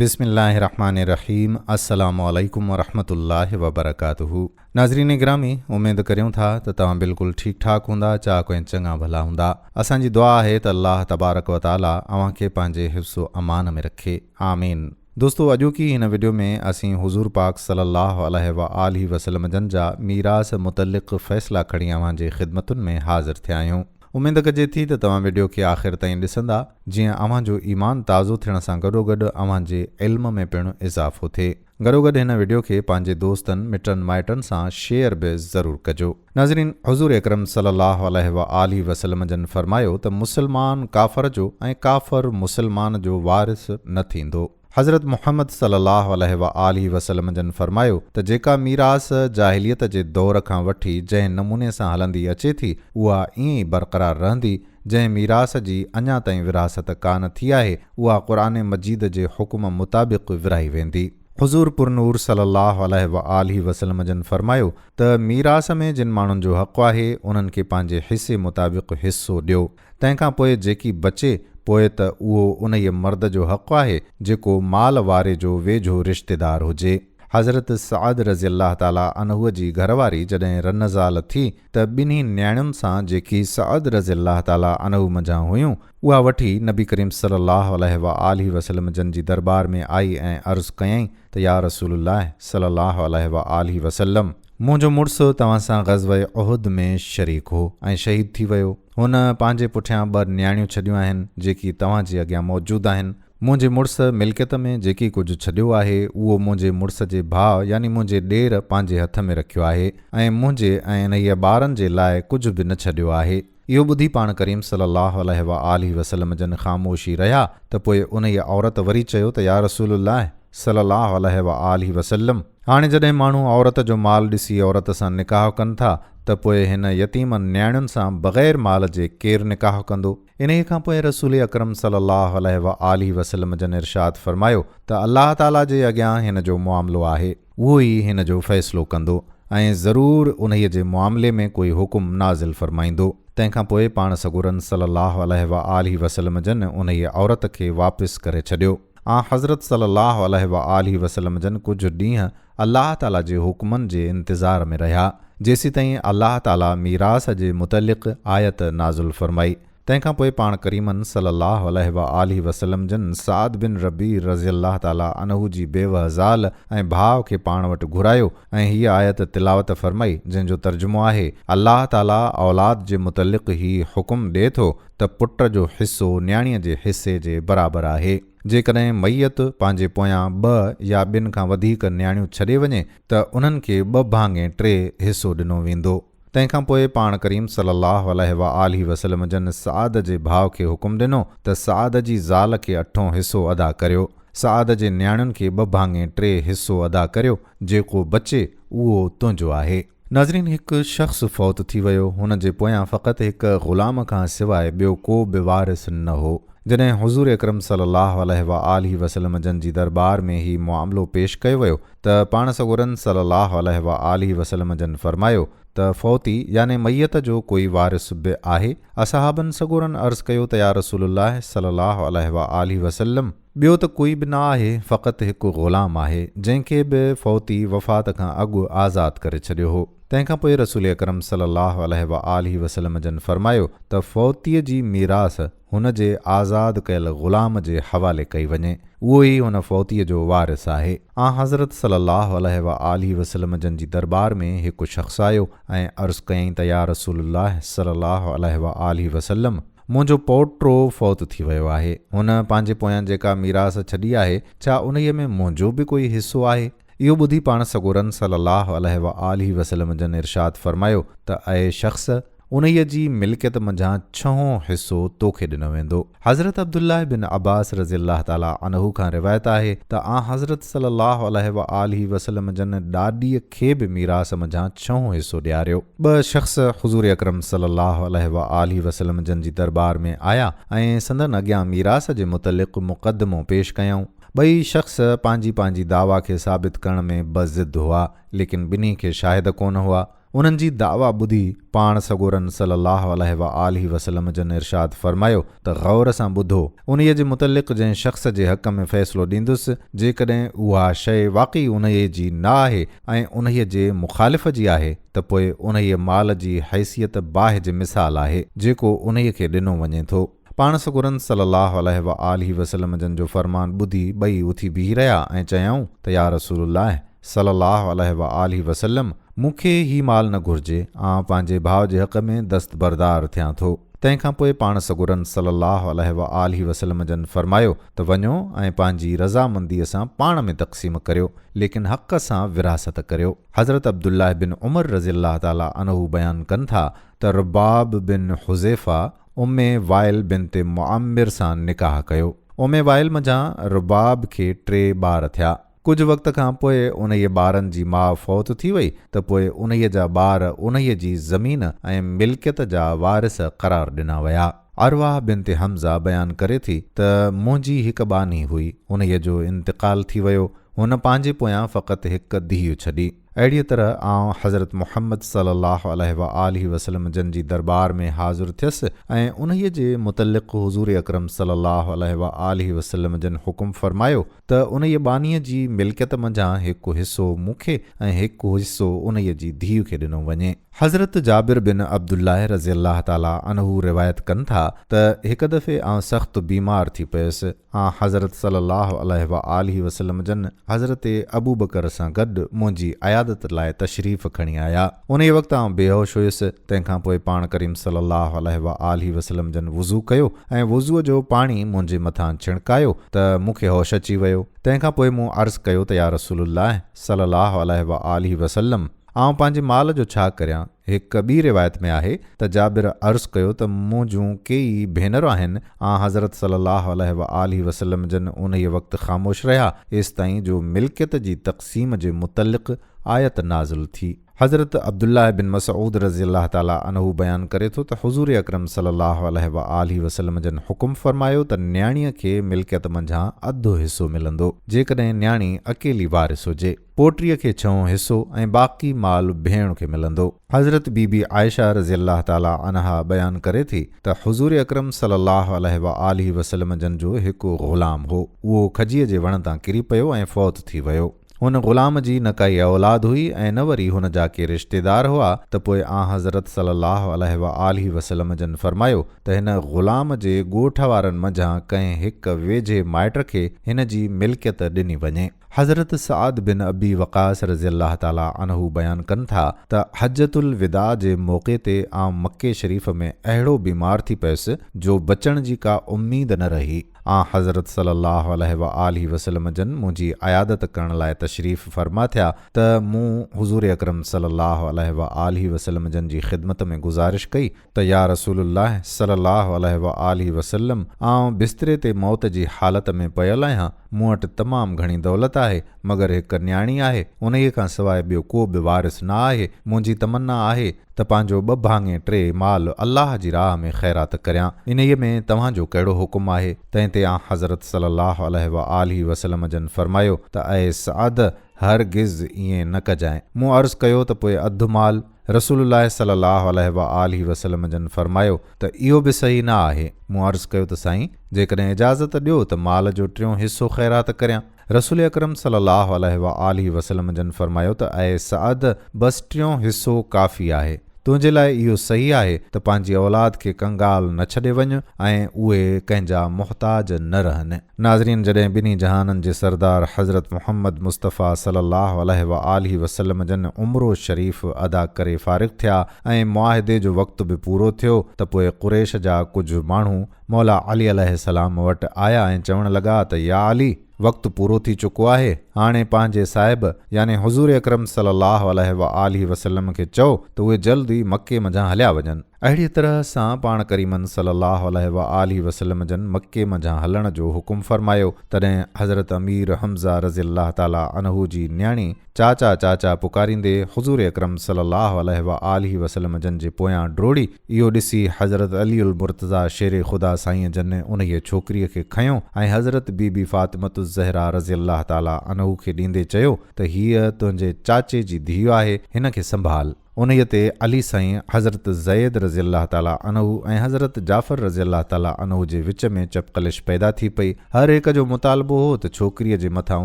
بسم الله الرحمٰن الرحيم السلام عليڪم ورحمة الله وبرڪاته ناظرين گرامي اميد ڪريون ٿا ته توهان بلڪل ٺيڪ ٺاڪ هوندا چاڪ ۽ چڱا ڀلا هوندا اسان جي دعا آهي ته الله تبارڪ وتعالي اوهان کي پنهنجي حفظ و امان ۾ رکي آمين دوستو اڄوڪي هن وڊيو ۾ اسين حضور پاڪ صلي الله عليه وآله وسلمجن جا ميراث متعلق فيصلا کڻي اوهان جي خدمتن ۾ حاضر ٿيا آهيون. اميد ڪجي ٿي ته توهان وڊيو کي آخر تائين ڏسندا جيئن اوهان جو ايمان تازو ٿيڻ سان گڏوگڏ اوهان جي علم ۾ پڻ اضافو ٿئي. گڏوگڏ هن وڊيو کي پنهنجي دوستن مٽن مائٽن سان شيئر به ضرور ڪجو. ناظرين حضور اڪرم صلي الله عليه وآله وسلم جن فرمايو ته مسلمان ڪافر جو ۽ ڪافر مسلمان جو وارث نه ٿيندو. حضرت محمد صلّي اللّٰه عليه واٰله وسلّم جن فرمايو ته جيڪا ميراث جاهليت جي دور کان وٺي جنهن نموني سان هلندي اچي ٿي اها ائين ئي برقرار رهندي، جنهن ميراث جي اڃا تائين ورهاست ڪانه ٿي آهي اها قرآن مجيد جي حڪم مطابق ورهائي ويندي. حضور پرنور صلّي اللّٰه عليه واٰله وسلّم جن فرمايو ته ميراث ۾ جن ماڻهن جو حق آهي انهن کي پنهنجي حصي مطابق حصو ڏيو. تنهن کان پوء جيڪي بچي پوء ته اهو انهيء مرد جو حق آهي جيڪو مال واري جو ويجهو رشتيدار هجي. حضرت سعد رضي الله تعاليٰ عنه جي گهر واري جڏهن رنزال ٿي ته ٻنهي نياڻين سان جيڪي سعد رضي الله تعاليٰ عنه منجهان هيون اها وٺي نبي ڪريم صلّي الله عليه واٰله وسلّم جن جي درٻار ۾ آئي ۽ عرض ڪيائين ته يا رسول الله صلّي الله عليه واٰله وسلّم! منهنجو مڙس توهان سان غزوه احد ۾ شريڪ هو ۽ شهيد ٿي ويو. هن پنهنجي پٺيان ٻه نياڻيون ڇڏيون آهن، جيڪي توهان جي اڳيان موجود آهن. منهنجي مڙس ملڪيت ۾ جيڪي ڪجهه ڇڏيو آهي، اهو منهنجي مڙس جي ڀاء يعني منهنجي ڏير پنهنجي هٿ ۾ رکيو آهي ۽ منهنجي ۽ انهيء ٻارن جي لاء ڪجهه به نه ڇڏيو آهي. اهو ٻڌي پاڻ ڪريم صلي الله عليه وآله وسلم جن خاموشي رهيا ته پوء انهيء عورت وري چيو ته يا رسول الله صلي الله عليه وآله وسلم! هاڻي جڏهن ماڻهو عورت جو مال ڏسي عورت سان نڪاح ڪن ٿا ته پوء هن يتيمن نياڻين سان بغير مال جي ڪير نڪاح ڪندو؟ انهيء کان پوء رسول اڪرم صلّي اللّٰه عليه واٰله وسلّم جن ارشاد فرمايو ته الله تعاليٰ جي اڳيان هن جو معاملو آهي، اهو ئي هن جو فيصلو ڪندو ۽ ضرور انهيء جي معاملي ۾ ڪوئي حڪم نازل فرمائيندو. تنهن کان پوء پاڻ سڳورن صلّي اللّٰه عليه واٰله وسلّم جن انهيء عورت کي واپس ڪري ڇڏيو. آنحضرت صلّي اللّٰه عليه واٰله وسلّم جن ڪجهه ڏينهن الله تعالٰي جي حڪمن جي انتظار ۾ رهيا، جيسيتائين الله تعالٰي ميراث جي متعلق آيت نازل فرمائي. تنهن کان پوء پاڻ ڪريمن صلّي اللّٰه عليه واٰله وسلّم جن سعد بن ربيع رضي الله تعالٰي عنه جي بيوهه زال ۽ ڀاء کي پاڻ وٽ گهرايو ۽ هيء آيت تلاوت فرمائي، جنهن جو ترجمو آهي، الله تعالٰي اولاد جي متعلق هي حڪم ڏئي ٿو، ته پٽ جو حصو نياڻيء جي حصي جي برابر آهي. جيڪڏهن ميت پنهنجي پويان ٻه يا ٻن کان وڌيڪ نياڻيون ڇڏي وڃي ته انهن کي ٻه ڀاڱي ٽي حصو ڏنو ويندو. تنهن کان پوء پاڻ ڪريم صلّي اللّٰه عليه واٰله وسلّم جن سعد جي ڀاء کي حڪم ڏنو ته سعد جي زال کي اٺون حصو ادا ڪريو. سعد جي نياڻين کي ٻه ڀاڱي ٽي حصو ادا ڪريو، جيڪو بچي اهو تنهنجو آهي. ناظرين هڪ شخص فوت ٿي ويو هن جي پويان فقط هڪ غلام کان سواء ٻيو ڪو به وارث نه هو جڏهن حضور اڪرم صلي الله عليه واٰله وسلم جن جي دربار ۾ هي معاملو پيش ڪيو ويو ته پاڻ سڳورن صلي الله عليه واٰله وسلم جن فرمايو ته فوتي يعني ميت جو ڪوئي وارث به آهي اصحابن سڳورن عرض ڪيو ته يا رسول الله صلي الله عليه واٰله وسلم ٻيو ته ڪوئي به نه آهي، فقط هڪ غلام آهي، جنهن کي به فوتي، وفات، کان اڳ آزاد ڪري ڇڏيو هو. تنهن کان پوء رسول اڪرم صلي الله عليه وآله وسلم جن فرمايو ته فوتيء جي ميراث هن جي آزاد ڪيل غلام جي حوالي ڪئي وڃي، اهو ئي هن فوتيء جو وارث آهي. آنحضرت صلي الله عليه وآله وسلم جن جي درٻار ۾ هڪ شخص آيو ۽ عرض ڪيائين ته يا رسول الله صلي الله عليه وآله وسلم! منهنجو پوٽو فوت ٿي ويو آهي. هن پنهنجي پويان جيڪا ميراث ڇڏي آهي، ڇا انهيء ۾ منهنجو به ڪوئي حصو آهي؟ اهو ٻڌي پاڻ سڳورن صلّي الله عليه واٰله وسلّم جن ارشاد فرمايو ته اي شخص! انهيء جي ملڪيت منجهان ڇهون حصو توکي ڏنو ويندو. حضرت عبدالله بن عباس رضي الله تعالٰي عنه کان روايت آهي ته آنحضرت صلّي الله عليه واٰله وسلّم جن ڏاڏيء، کي به ميراث منجهان ڇهون حصو ڏياريو. ٻه شخص حضور اڪرم صلي الله عليه وآله وسلم جن جي درٻار ۾ آيا ۽ سندن اڳيان ميراث جي متعلق مقدمو پيش ڪيائون. ٻئي شخص پنهنجي پنهنجي دعويٰ کي ثابت ڪرڻ ۾ بضد هئا، ليڪن ٻنهي کي شاهد ڪونه هئا. انهن جي دعويٰ ٻڌي. پاڻ سڳورن صلّي اللّٰه عليه واٰله وسلّم جن ارشاد فرمايو ته غور سان ٻڌو، انهيء جي متعلق جنهن شخص جي حق ۾ فيصلو ڏيندس، جيڪڏهن اها شيء واقعي انهيء جي نه آهي ۽ انهيء جي مخالف جي آهي ته پوء انهيء مال جي حيثيت باهه جي مثال آهي، جيڪو انهيء کي ڏنو وڃي ٿو. پاڻ سڳورن صلّي اللّٰه عليه واٰله وسلّم جن جو فرمان ٻڌي ٻئي اٿي بيهي رهيا ۽ چيائون ته يا رسول الله صلّي اللّٰه عليه واٰله وسلّم مون کي هي مال نه گهرجي آئون پنهنجي ڀاء جي حق ۾ دستبردار ٿيان ٿو. تنهن کان پوء پاڻ سڳورن صلّي اللّٰه عليه واٰله وسلّم جن فرمايو ته وڃو ۽ پنهنجي رضامنديء سان پاڻ ۾ تقسيم ڪريو ليڪن حق سان ورهاست ڪريو. حضرت عبد الله بن عمر رضي الله تعالٰي عنه بيان ڪن ٿا ته رباب بن حذيفه، ام وائل بنت معمر سان نڪاح ڪيو. ام وائل منجهان رباب کي ٽي ٻار ٿيا. ڪجهه وقت کان پوء انهيء ٻارن جي ماء فوت ٿي وئي ته پوء انهيء جا ٻار انهيء جي زمين ۽ ملڪيت جا وارث قرار ڏنا ويا. ارواح بنت حمزه بيان ڪري ٿي ته منهنجي هڪ ٻانهي هئي، انهيء جو انتقال ٿي ويو. هن پنهنجي پويان فقط هڪ ڌيء ڇڏي. اهڙيء طرح آئون حضرت محمد صلّي اللّٰه عليه واٰله وسلّم جن جي درٻار ۾ حاضر ٿيس ۽ انهيء جي متعلّق حضور اڪرم صلّي اللّٰه عليه واٰله وسلّم جن حڪم فرمايو ته انهيء ٻانهيء جي ملڪيت منجهان هڪ حصّو مون کي ۽ هڪ حصّو انهيء جي ڌيء کي ڏنو وڃي. حضرت جابر بن عبد الله رضي الله تعالٰي عنه روايت ڪن ٿا ته هڪ دفعي آئون سخت بيمار ٿي پيس، آنحضرت صلّي اللّٰه عليه واٰله وسلّم جن حضرت ابوبڪر سان گڏ منهنجي عيادت لاء تشريف کڻي آيا. انهيء وقت آئون بيهوش هيس، تنهن کان پوء پاڻ ڪريم صلّي اللّٰه عليه واٰله وسلّم جن وضو ڪيو ۽ وضوء جو پاڻي منهنجي مٿان ڇڻڪايو ته مون کي هوش اچي ويو. تنهن کان پوء مون عرض ڪيو ته يا رسول الله صلّي اللّٰه عليه واٰله وسلّم! آئون پنهنجي مال جو ڇا ڪريان؟ هڪ ٻي روايت ۾ آهي ته جابر عرض ڪيو ته مون جون ڪيئي ڀينر آهن، آنحضرت صلّي اللّٰه عليه واٰله وسلّم جن انهيء وقت خاموش رهيا ايستائين جو ملڪيت جي تقسيم جي متعلق آيت نازل ٿي. حضرت عبدالله بن مسعود رضي الله تعالٰي عنه بيان ڪري ٿو ته حضور اڪرم صلّي اللّٰه عليه واٰله وسلّم جن حڪم فرمايو ته نياڻيء کي ملڪيت منجهان اڌ حصو ملندو، جيڪڏهن نياڻي اڪيلي وارث هجي. پوٽريء کي ڇهون حصو ۽ باقي مال ڀيڻ کي ملندو. حضرت بي بي عائشه رضي الله تعاليٰ عنها بيان ڪري ٿي ته حضور اڪرم صلي الله عليه وآله وسلم جن جو هڪ غلام هو، اهو کجيء جي وڻ تان ڪري پيو ۽ فوت ٿي ويو. هن غلام جي نه ڪائي اولاد هئي ۽ نه وري هن جا ڪي رشتيدار هئا ته پوء آنحضرت صلي الله عليه وآله وسلم جن فرمايو ته هن غلام جي ڳوٺ وارن منجهان ڪنهن هڪ ويجهي مائٽ کي هن جي ملڪيت ڏني وڃي. حضرت سعد بن ابي وقاص رضي الله تعالٰي عنه بيان ڪن ٿا ته حجة الوداع جي موقعي تي آئون مڪي شريف ۾ اهڙو بيمار ٿي پيس جو بچڻ جي ڪا اميد نه رهي. آن حضرت صلّي اللّٰه عليه واٰله وسلّم جن منهنجي عيادت ڪرڻ لاء تشريف فرما ٿيا ته مون حضور اڪرم صلّي اللّٰه عليه واٰله وسلّم جن جي خدمت ۾ گذارش ڪئي ته يا رسول الله صلي الله عليه وآله وسلم آئون بستري تي موت جي حالت ۾ پيل آهيان، مون وٽ تمام گهڻي دولت آهي، مگر هڪ نياڻي آهي، انهيء کان سواء ٻيو ڪو به وارث نه آهي، منهنجي تمنا آهي ته پنهنجو ٻه ڀاڱي ٽي مال الله جي راهه ۾ خيرات ڪريان، انهيء ۾ توهان جو ڪهڙو حڪم آهي؟ تنهن تي آنحضرت صلي الله عليه وآله وسلم جن فرمايو ته اي سعد! هرگز ائين نه ڪجانء. مون عرض ڪيو ته پوء اڌ مال؟ رسول الله صلي الله عليه وآله وسلم جن فرمايو ته اهو به صحيح نه آهي، مون عرض ڪيو ته سائين! جيڪڏهن اجازت ڏيو ته مال جو ٽيون حصو خيرات ڪريان. رسول اڪرم صلي الله عليه وآله وسلم جن فرمايو ته اي سعد! بس ٽيون حصو ڪافي آهي. تنهنجي لاء اهو صحيح آهي ته پنهنجي اولاد کي ڪنگال نه ڇڏي وڃ ۽ اهي ڪنهن جا محتاج نه رهن. ناظرين جڏهن ٻنهي جهانن جي سردار حضرت محمد مصطفيٰ صلي الله عليه وآله وسلم جن عمرو شريف ادا ڪري فارغ ٿيا ۽ معاهدي جو وقت به پورو ٿيو ته پوء قريش جا ڪجهه ماڻهو مولا علي عليه السلام وٽ آيا ۽ چوڻ لڳا ته يا علي! وقت پورو ٿي چڪو آهي، هاڻي پنهنجي صاحب يعني حضور اڪرم صلي الله عليه وآله وسلم کي چئو ته اهي جلد ئي مڪي منجهان هليا وڃن. اهڙيء طرح سان پاڻ ڪريمن صلّي اللّٰه عليه واٰله وسلّم جن مڪي منجهان هلڻ جو حڪم فرمايو، تڏهن حضرت امير حمزه رضي الله تعالٰي عنه جي نياڻي چاچا چاچا پڪاريندي حضور اڪرم صلّي اللّٰه عليه واٰله وسلّم جن جي پويان ڊوڙي، اهو ڏسي حضرت علي المرتضٰي شير خدا سائينء جن انهيء ڇوڪريء کي کنيو ۽ حضرت بي بي فاطمة الزهراء رضي الله تعالٰي عنه کي ڏيندي چيو ته هيء تنهنجي چاچي جي ڌيء آهي، هن کي سنڀال. انهيء تي علي سائين حضرت زيد رضي الله تعاليٰ عنه ۽ حضرت جعفر رضي الله تعاليٰ عنه جي وچ ۾ چپقلش پيدا ٿي پئي. هر هڪ جو مطالبو هو ته ڇوڪريء جي مٿان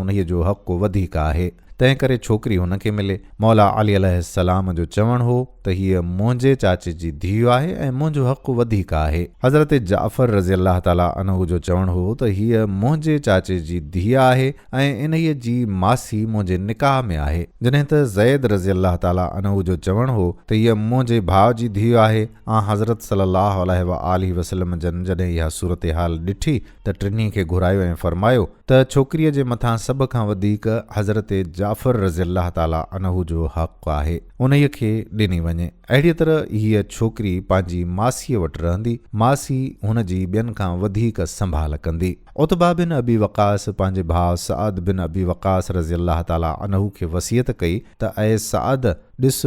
انهيء جو حق وڌيڪ آهي، تنهنڪري ڇوڪري هن کي ملي. مولا علي عليه السلام جو چوڻ هو ته هيء منهنجي چاچي جي ڌيء آهي ۽ منهنجو حق وڌيڪ آهي. حضرت جعفر رضي الله تعاليٰ عنه جو چوڻ هو ته هيء منهنجي چاچي جي ڌيء آهي، ۽ انهيء جي ماسي منهنجي نڪاح ۾ آهي. جڏهن ته زيد رضي الله تعالٰي عنه جو چوڻ هو ته هيء منهنجي ڀاء جي ڌيء آهي. آن حضرت صلّي اللّٰه عليه واٰله وسلّم جن جڏهن اها صورتحال ڏٺي ته ٽنهي کي گهرايو ۽ فرمايو ته ڇوڪريء جي مٿان سڀ کان وڌيڪ حضرت جعفر رضي الله تعالٰي عنه جو حق آهي، انهيء کي ڏني وڃي. اهڙيء طرح هيء ڇوڪري پنهنجي ماسيء وٽ رهندي، ماسي هن جي ٻين کان وڌيڪ سنڀال ڪندي. عتبه بن ابي وقاص پنهنجي ڀاء سعد بن ابي وقاص رضي الله تعالٰي عنه کي وصيت ڪئي ته اي سعد! ڏس،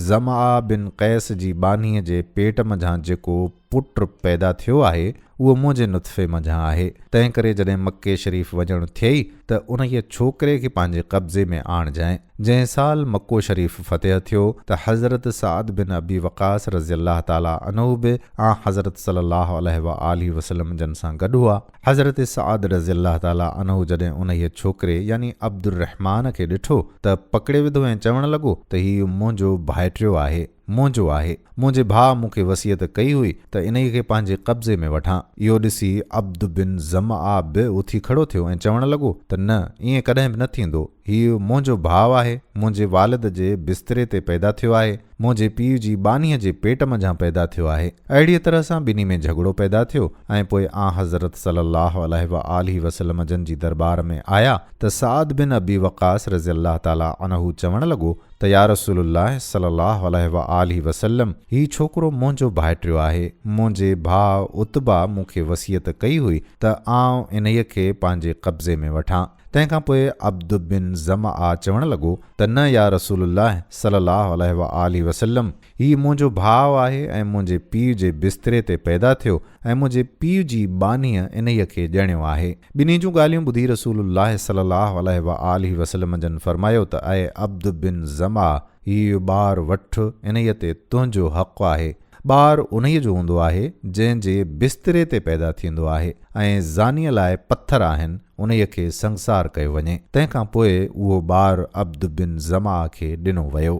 ضمآء بن قيس جي ٻانهيء جي پيٽ منجهان جيڪو پٽ پيدا ٿيو آهي، اهو منهنجي نطفي منجهان آهي، تنهن ڪري جڏهن مڪي شريف وڃڻ ٿئي ته انهيء ڇوڪري کي پنهنجي قبضي ۾ آڻجانء. جنهن سال مڪو شريف فتح ٿيو ته حضرت سعد بن ابي وقاص رضي الله تعالٰي عنه به آن حضرت صلّي الله عليه واٰله وسلّم جن سان گڏ هئا. حضرت سعد رضي الله تعالٰي عنه جڏهن انهيء ڇوڪري يعني عبدالرحمان کي ڏٺو ته پڪڙي وڌو ۽ چوڻ لڳو ته هي منهنجو ڀائٽيو آهي. منهنجو آهي. منهنجي ڀاء مون کي وصيت ڪئي هئي ته انهيء کي پنهنجي قبضي ۾ وٺان. اهو ڏسي عبد بن ظمآ به اٿي کڙو ٿيو ۽ چوڻ لڳو ته نه، ائين ڪڏهن به نه ٿيندو. هيء منهنجو ڀاء آهي، منهنجي والد جي بستري تي پيدا ٿيو آهي، منهنجي پيء جي ٻانهيء جي پيٽ منجهان پيدا ٿيو آهي. اهڙيء طرح سان ٻنهي ۾ جهڳڙو پيدا ٿيو ۽ پوء آنحضرت صلّي اللّٰه عليه واٰله وسلّم جن جي درٻار ۾ آيا ته سعد بن ابي وقّاص رضي الله تعالٰي عنه چوڻ لڳو، ته يا رسول الله صلي الله عليه وآله وسلم هي ڇوڪرو منهنجو ڀائٽيو آهي، منهنجي ڀاء عتبه مون کي وصيت ڪئي هئي ته آئون انهيء کي پنهنجي قبضي ۾ وٺان. تنهن کان پوء عبد بن ظمآ چوڻ لڳو ته نه يا رسول الله صلي الله عليه وآله وسلم هي منهنجو ڀاء آهي ۽ منهنجي پيء جي بستري تي پيدا ٿيو ۽ منهنجي پيء جي ٻانهيء انهيء کي ڄڻيو آهي. ٻنهي جون ڳالهيون ٻڌي رسول الله صلّي الله عليه واٰله وسلّم جن فرمايو ته اي عبد بن زمعه! هيء ٻار وٺ، انهيء تي تنهنجو حق آهي. ٻار انهيء جو هوندو آهي، جنهن جي بستري تي پيدا ٿيندو آهي ۽ زانيء لاء پٿر آهن، انهيء کي سنگسار ڪيو وڃي. تنهن کان پوء اهو ٻار عبد بن زمعه کي ڏنو ويو.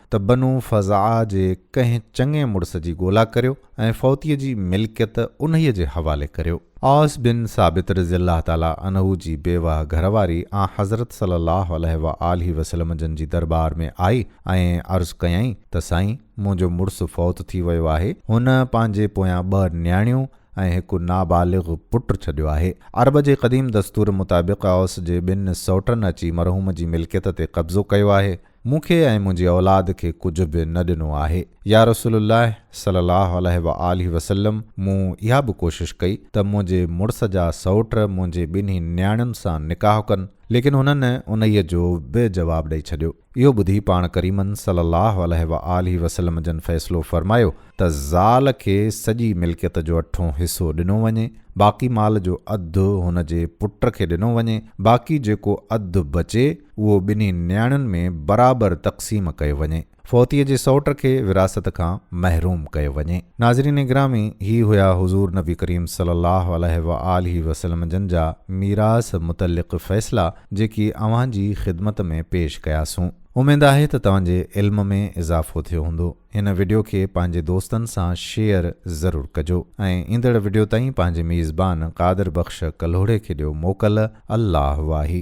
ته بنو فزعه جي ڪنهن چڱي مڙس جي ڳولا ڪريو ۽ فوتيء جي ملڪيت انهيء جي حوالي ڪريو. اوس بن ثابت رضي الله تعاليٰ عنه جي بيوهه گهر واري آنحضرت صلّي اللّٰه عليه واٰله وسلّم جن جي دربار ۾ آئي ۽ عرض ڪيائين ته سائين! منهنجو مڙس فوت ٿي ويو آهي. هن پنهنجي پويان ٻه نياڻيون ۽ هڪ نابالغ پٽ ڇڏيو آهي. عرب جي قديم دستور مطابق اوس جي ٻن سئوٽن اچي مرحوم جي ملڪيت تي قبضو ڪيو آهي. مون کي ۽ منهنجي اولاد کي ڪجهه به نه ڏنو آهي. يا رسول الله صلي الله عليه وآله وسلم مون اها به ڪوشش ڪئي ته منهنجي مڙس جا سئوٽ منهنجي ٻنهي نياڻين سان نڪاح ڪن ليڪن هنن انهيء جو به جواب ڏئي ڇڏيو. اهو ٻڌي پاڻ ڪريمن صلي الله عليه وآله وسلم جن فيصلو فرمايو ته زال کي سڄي ملڪيت جو اٺون حصو ڏنو وڃي باقي مال جو اڌ هن جي پٽ کي ڏنو وڃي باقي جيڪو اڌ بچي اهو ٻنهي نياڻين ۾ برابر تقسيم ڪيو وڃي. فوتيء جي سئوٽ کي وراثت کان محروم ڪيو وڃي. ناظرين گرامي! هي هيا حضور نبي ڪريم صلي الله عليه وآله وسلم جن جا ميراث متعلق فيصلا جيڪي اوهان جي خدمت ۾ پيش ڪياسون. اميد آهي ته توهان جي علم ۾ اضافو ٿيو هوندو. هن وڊيو کي پنهنجي دوستن سان شيئر ضرور ڪجو ۽ ايندڙ وڊيو تائين پنهنجي ميزبان قادر بخش ڪلهوڙي کي ڏيو موڪل. الله واهي.